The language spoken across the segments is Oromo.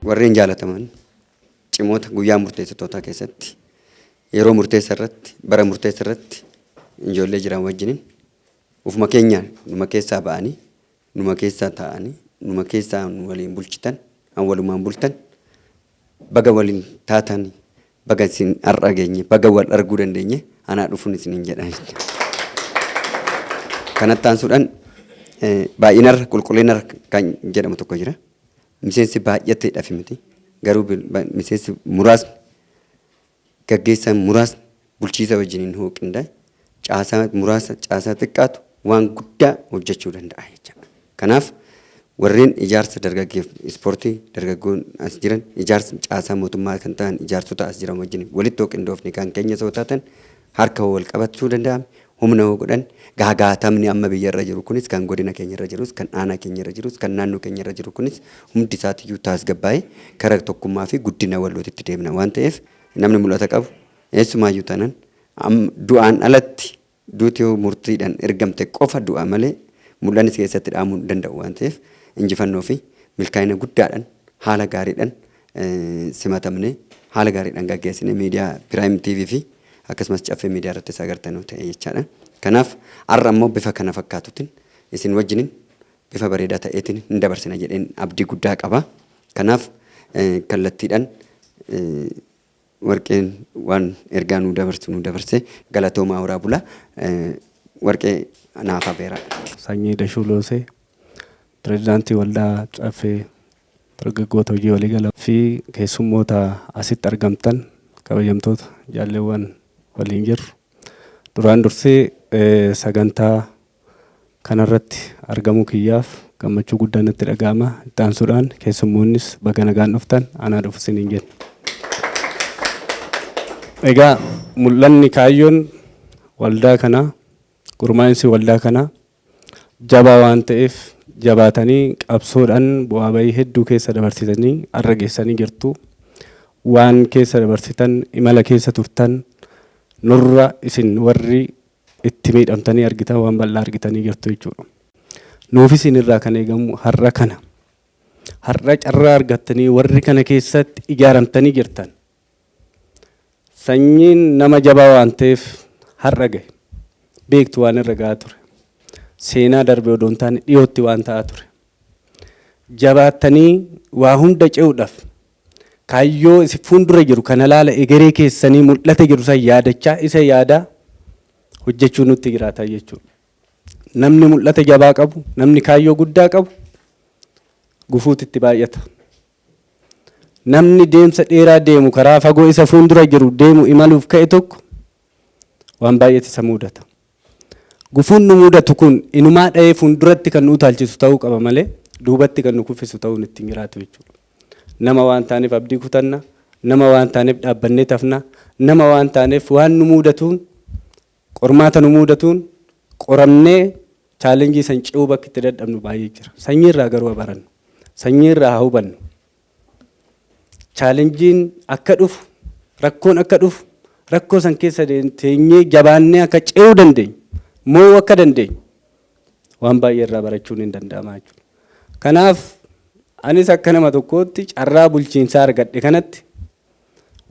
Warreen jaalataman cimoota guyyaa murteessitootaa keessatti yeroo murteessa irratti bara murteessa irratti ijoollee jiran wajjiniin ufuma keenyaan dhuma keessaa ba'anii Numa keessaa taa'anii, numa keessaa nu waliin bulchitan, an walumaan bultan, baga waliin taatan, baga isin har'a geenye, baga wal arguu dandeenye, anaa dhufun isiniin jedha jette. Kanatti aansuudhaan eh, baay'inarra qulqullinarra kan jedhamu tokko jira. Miseensi baay'ateedhaaf miti. Garuu bil- ba- miseensi muraasni Gaggeessaan muraasni bulchiisa wajjiniin hoo qindaa'e, caasaa muraasa, caasaa xiqqaatu waan guddaa hojjachuu danda'a jechaadha. Kanaaf warreen ijaarsa dargaggeef ispoortii dargaggoon as jiran, ijaarsa caasaa mootummaa kan ta'an ijaarsota as jiran wajjiniin walitti hoo qindoofne kan keenyas hoo taatan harka hoo wal qabachuu danda'ame, humna hoo godhan, gaagaatamni amma biyya irra jiru kunis kan godina keenya irra jirus, kan aanaa keenya irra jirus, kan naannoo keenya irra jiru kunis hundi isaatiyyuu taasgabbaa'ee kara tokkummaa fi guddina wallootitti deemna waan ta'eef namni mul'ata qabu eessumaayyuu taanan amma du'aan alatti duuti yoo murtiidhan ergamte qofa du'a malee mul'annis keessatti dhaamuu hin danda'u waan ta'eef injifannoo fi milkaa'ina guddaadhan haala gaariidhan simatamne haala gaariidhaan gaggeessine miidiyaa Piraayim TV fi akkasumas Caffee Miidiyaa irrattis agartanu ta'e jechaadha. Kanaaf har'a immoo bifa kana fakkaatutin isin wajjinin bifa bareedaa ta'eetiin hin dabarsina jedheen abdii guddaa qaba. Kanaaf kallattiidhaan warqeen waan ergaa nuu dabarsu nuu dabarse galatoomaa horaa bula warqee naaf afeeraa. Sanyii Dashuu Loosee, Pireezidaantii Waldaa Caffee Dargaggoota Hojii Waliigalaa fi keessummoota asitti argamtan kabajamtoota jaalleewwan waliin jirru duraan dursee sagantaa kanarratti argamuu kiyyaaf gammachuu guddaa natti dhaga'ama. Itti aansuudhaan keessummoonnis baga nagaan dhuftan anaa dhufu isiniin jenna. Egaa mul'anni kaayyoon waldaa kanaa gurmaa'insi waldaa kanaa jabaa waan ta'eef jabaatanii qabsoodhaan bu'aa bahii hedduu keessa dabarsitanii har'a geessanii jirtu. Waan keessa dabarsitan imala keessa turtan nurra isin warri itti miidhamtanii argitan waan bal'aa argitanii jirtu jechuudha. Nuuf isin irraa kan eegamu har'a kana. Har'a carraa argattanii warri kana keessatti ijaaramtanii jirtan Sanyiin nama jabaa waan ta'eef har'a gahe. Beektu waan irra gahaa ture. Seenaa darbe odoo hin taane dhiyootti waan ta'aa ture. Jabaattanii waa hunda ce'uudhaaf kaayyoo isin fuuldura jiru kana laala egeree keessanii mul'ata jiru san yaadachaa isa yaadaa hojjechuu nutti jiraataa jechuudha. Namni mul'ata jabaa qabu, namni kaayyoo guddaa qabu gufuutu itti baay'ata. Namni deemsa dheeraa deemu, karaa fagoo isa fuundura jiru deemu imaluuf ka'e tokko waan baay'eetu isa muudata. Gufuun nu muudatu kun inumaa dha'ee fuunduratti kan nu utaalchisu ta'uu qaba malee duubatti kan nu kuffisu ta'uun itti hin jiraatu jechuudha. Nama waan taaneef abdii kutanna, nama waan taaneef dhaabbanneet hafna, nama waan taaneef waan nu muudatuun Qormaata nu muudatuun qoramnee challenge san ce'uu bakki itti dadhabnu baay'ee jira. Sanyii irraa garuu haa barannu. Sanyii irraa haa hubannu. Challengeen akka dhufu, rakkoon akka dhufu, rakkoo san keessa teenyee jabaannee akka ce'uu dandeenyu, moo'uu akka dandeenyu waan baay'ee irraa barachuun hin danda'ama jechuudha. Kanaaf anis akka nama tokkootti carraa bulchiinsaa argadhe kanatti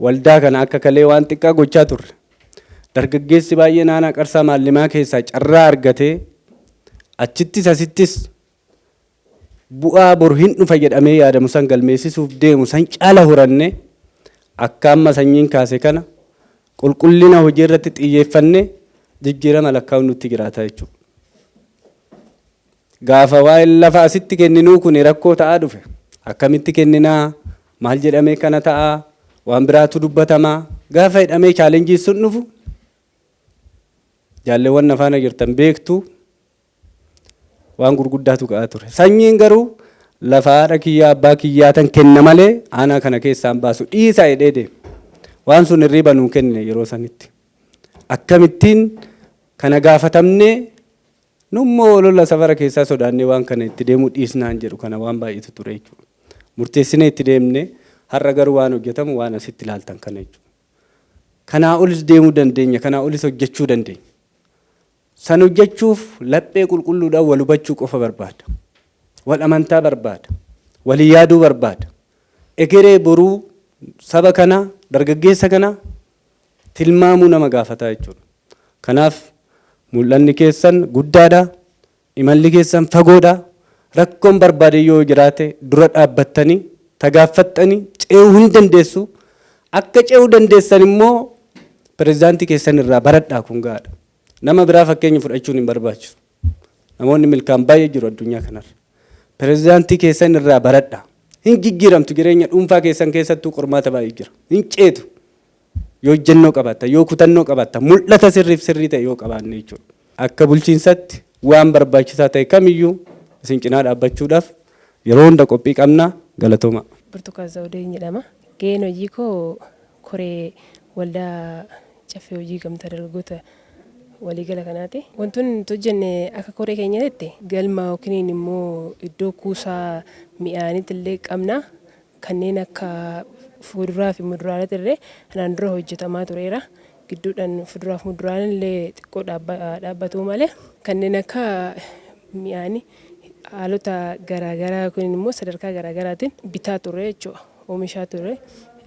Waldaa kana akka kalee waan xiqqaa gochaa turre. Dargaggeessi baay'een aanaa Qarsaa Maallimaa keessaa carraa argatee achittis asittis bu'aa bor hin dhufa jedhamee yaadamu san galmeessisuuf deemu san caala horannee akka amma sanyiin kaase kana qulqullina hojii irratti xiyyeeffannee jijjiirama lakkaa'uun nutti jiraata jechuudha. Gaafa waa'een lafa asitti kenninuu kuni rakkoo ta'aa dhufe, akkamitti kennina, maal jedhamee kana ta'a, waan biraatu dubbatama, gaafa jedhamee challenge sun dhufu, jaalleewwan na faana jirtan beektu, waan gurguddaatu ka'aa ture. Sanyiin garuu lafa haadha kiyyaa abbaa kiyyaatan kenna malee aanaa kana keessaan baasu dhiisaa jedhee deeme. Waan sun hirriiba nuu kennine yeroo sanitti. Akkamittiin kana gaafatamnee Nu immoo olola safara keessaa sodaannee waan kana itti deemuu dhiisnaan jedhu kana waan baay'eetu ture jechuudha. Murteessinee itti deemne har'a garuu waan hojjetamu waan asitti ilaaltan kana jechuudha. Kanaa olis deemuu dandeenya, kanaa olis hojjechuu dandeenya. San hojjechuuf laphee qulqulluudhaan wal hubachuu qofa barbaada. Wal amantaa barbaada. Walii yaaduu barbaada. Egeree boruu saba kanaa, dargaggeessa kanaa tilmaamuu nama gaafata jechuudha. Kanaaf mul'anni keessan guddaadha, imalli keessan fagoodha, rakkoon barbaade yoo jiraate dura dhaabbattanii tagaaffattanii ce'uu hin dandeessu. Akka ce'uu dandeessan immoo pirezidaantii keessan irraa baradhaa kun gahaadha. Nama biraa fakkeenya fudhachuun hin barbaachisu. Namoonni milkaan baay'ee jiru addunyaa kanarra. Pirezidaantii keessan irraa baradha. Hin jijjiiramtu jireenya dhuunfaa keessan keessattuu qormaata baay'ee jira. Hin ceetu. Yoo ijjannoo qabaatta, yoo kutannoo qabaatta, mul'ata sirriif sirrii ta'e yoo qabaanne jechuudha. Akka bulchiinsatti waan barbaachisaa ta'e kamiyyuu isin cinaa dhaabbachuudhaaf Yeroo hunda qophii qabna galatoomaa. Burtukaan Zawudeen jedhama. Gaheen hojii koo koree waldaa caffee hojii gamtaa dargaggoota waliigala kanaati. Wantoonni nuti hojjenne akka koree keenyatitti galma yookiin immoo iddoo kuusaa mi'aaniitillee qabna. Kanneen akka fuuduraa fi muduraalee illee kanaan dura hojjetamaa tureera. Gidduudhaan fuduraa fi muduraaleen illee xiqqoo dhaabbatuu malee kanneen akka mi'aanii haalota garaagaraa yookiin immoo sadarkaa garaagaraatiin bitaa turre jechuudha. Oomishaa turre.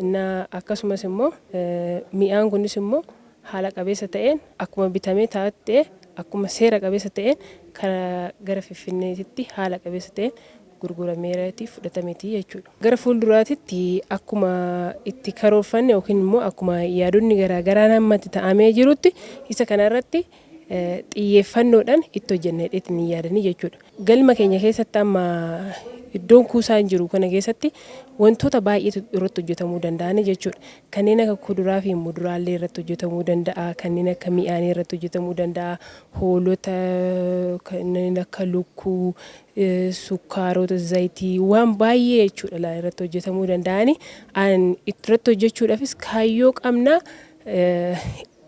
Innaa akkasumas immoo mi'aan kunis immoo haala qabeessa ta'een akkuma bitamee taa'utti ta'ee akkuma seera qabeessa ta'een gara Finfinneetitti haala qabeessa ta'een gurgurameerati fudhatameti jechuudha. Gara fuulduraatitti akkuma itti karoorfanne yookiin immoo akkuma yaadonni garaa garaan hamma itti ta'amee jirutti isa kana irratti xiyyeeffannoodhaan itti hojjenna jedheetiin hin yaadanii jechuudha. Galma keenya keessatti amma iddoon kuusaan jiru kana keessatti wantoota baay'eetu irratti hojjetamuu danda'ani jechuudha. Kanneen akka kuduraa fi muduraallee irratti hojjetamuu danda'a, kanneen akka mi'aanii irratti hojjetamuu danda'a, hoolota kanneen akka lukkuu, sukkaarota, zayitii waan baay'ee jechuudha laal irratti hojjetamuu danda'ani. An irratti hojjechuudhaafis kaayyoo qabna.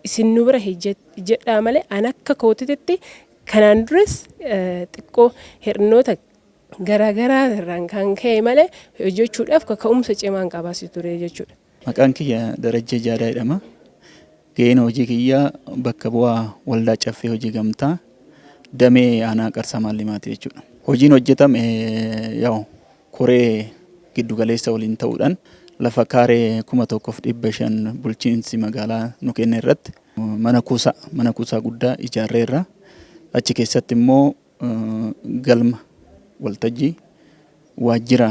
Isin nu bira hojjedhaa malee an akka kootititti kanaan duras xiqqoo hir'inoota garaagaraa irraan kan ka'e malee hojjechuudhaaf kaka'umsa cimaan qabasi ture jechuudha. Maqaan kiyya Darajjee Jaadaa jedhama. Ga'een hojii kiyyaa bakka bu'aa Waldaa Caffee Hojii Gamtaa damee aanaa Qarsaa Maallimaati jechuudha. Hojiin hojjetame yaa'u koree giddu galeessa waliin ta'uudhaan lafa kaaree kuma tokkoof dhibba shan bulchiinsi magaalaa nu kenne irratti mana kuusaa mana kuusaa guddaa ijaarreerra. Achi keessatti immoo Galma waltajjii waajjira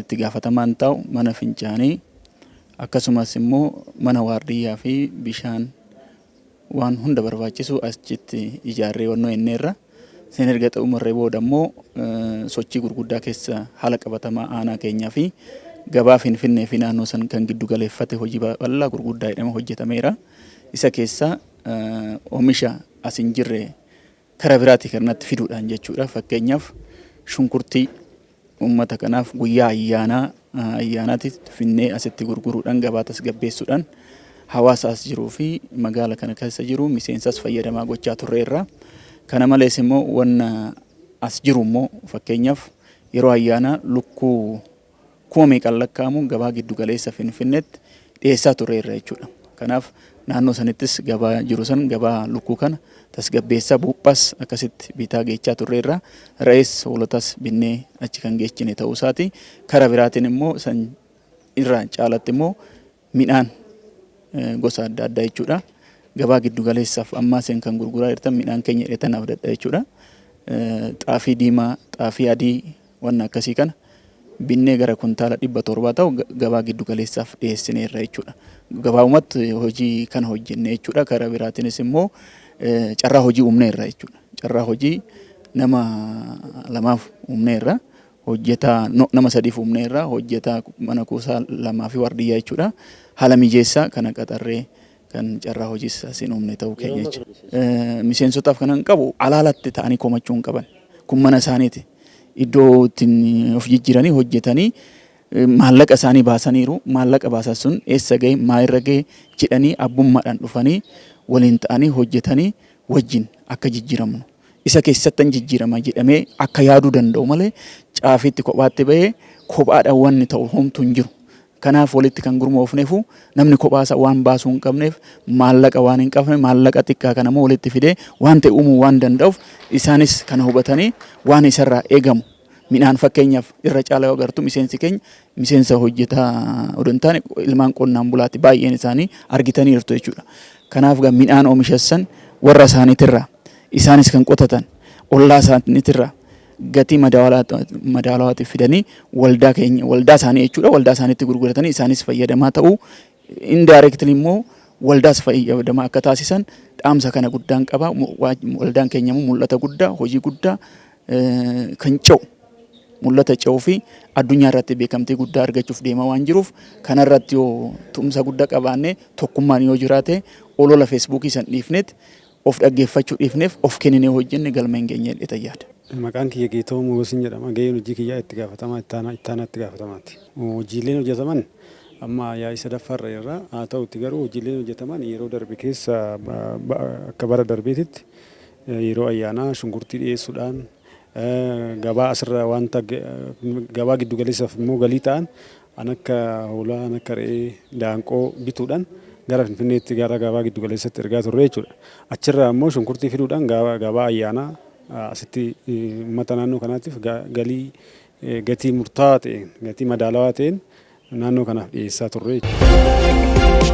itti gaafatamaan taa'u, mana fincaanii akkasumas immoo mana waardiyyaa fi bishaan waan hunda barbaachisu achitti ijaarree wannoo enneerra. Isin erga xumurree booda immoo sochii gurguddaa keessa haala qabatamaa aanaa keenyaa fi gabaa Finfinnee fi naannoo san kan giddu galeeffate hojii bal'aa gurguddaa jedhama hojjetameera. Isa keessaa oomisha as hin jirre kara biraatii kan natti fiduudhaan jechuudha. Fakkeenyaaf shunkurtii uummata kanaaf guyyaa ayyaanaa ayyaanaatti finnee asitti gurguruudhaan gabaa tasgabbeessuudhaan hawaasa as jiruu fi magaala kana keessa jiru miseensas fayyadamaa gochaa turre irraa. Kana malees immoo wanna as jiru immoo fakkeenyaaf yeroo ayyaanaa lukkuu kuma meeqaan lakkaa'amu gabaa giddu galeessa Finfinneetti dhiyeessaa turreerra jechuudha. Kanaaf naannoo sanittis gabaa jiru san gabaa lukkuu kana tasgabbeessaa buuphaas akkasitti bitaa geechaa turreerra. Re'ees hoolotas binnee achi kan geechine ta'uu isaati. Kara biraatiin immoo san irraa caalatti immoo Midhaan gosa adda addaa jechuudha. Gabaa giddu galeessaaf ammaa seen kan gurguraa jirtan midhaan keenya jedhetan abdadha jechuudha. Xaafii diimaa, xaafii adii wanna akkasii kana binnee gara kuntaala dhibba torbaa ta'u gabaa giddu galeessaaf dhiyeessineerra jechuudha. Gabaabumatti hojii kana hojjenne jechuudha. Karaa biraatiinis immoo carraa hojii uumneerra jechuudha. Carraa hojii nama lamaaf uumneerra. hojjetaa no, nama sadiif uumneerra hojjetaa mana kuusaa lamaa fi waardiyyaa jechuudha haala mijeessaa kana qaxarree kan carraa hojiis asiin uumne ta'uu keenya jecha Eh, miseensotaaf kanan qabu alaalatti ta'anii komachuu hin qaban kun mana isaaniiti iddoo ittiin of jijjiiranii hojjetanii eh, maallaqa isaanii baasaniiru maallaqa baasan sun eessa ga'e maa irra ga'e jedhanii abbummaadhaan dhufanii waliin ta'anii hojjetanii wajjin akka jijjiiramnu isa keessattan jijjiirama jedhamee akka yaaduu danda'u malee caafiitti kophaatti ba'ee kophaadhaan wanni ta'u homtuu hin jiru. Kanaaf walitti kan gurmoofneefu namni kophaasa waan baasuu hin qabneef maallaqa waan hin qabne maallaqa xiqqaa kana immoo walitti fidee waan ta'e uumuu waan danda'uuf isaanis kana hubatanii waan isarraa eegamu Midhaan fakkeenyaaf irra caalaa yoo agartu miseensi keenya miseensa hojjetaa odoo hin taane ilmaan qonnaan bulaatti baay'een isaanii argitaniirtu jechuudha. Kanaaf egaa midhaan oomishassan warra isaaniitirraa isaanis kan qotatan ollaa isaaniitirraa gatii madaalawaatiif fidanii waldaa keenya waldaa isaanii jechuudha waldaa isaaniitti gurguratanii isaanis fayyadamaa ta'uu indirectly immoo waldaas fayyadamaa akka taasisan dhaamsa kana guddaan qaba. Waldaan keenya immoo mul'ata guddaa hojii guddaa kan ce'u mul'ata ce'uu fi addunyaa irratti beekamtii guddaa argachuuf deema waan jiruuf kana irratti yoo tumsa guddaa qabaanne tokkummaan yoo jiraate olola feesbuukii san dhiifneet of dhaggeeffachuu dhiifneef of kenninee hojjenne galma hin geenye jedhee tayyaada. Maqaan kiyya Geetoo Mogosin jedhama. Gaheen hojii kiyyaa itti gaafatamaa ittaanaa ittaanaa itti gaafatamaati. Hojiileen hojjetaman amma yaa'ii sadaffaa irra jirra. Haa ta'uuti garuu hojiileen hojjetaman yeroo darbe keessa akka bara darbeetitti Yeroo ayyaanaa shunkurtii dhiyeessuudhaan gabaa asirra wanta gabaa giddu galeessaaf immoo galii ta'an an akka hoolaa, an akka re'ee, daanqoo bituudhaan gara Finfinneetti gara gabaa giddu galeessatti ergaa turre jechuudha. Achirraa immoo shunkurtii fiduudhaan gabaa ayyaanaa asitti uummata naannoo kanaatiif galii gatii murtaawaa ta'een, gatii madaalawaa ta'een naannoo kanaaf dhiyeessaa turre jechuudha.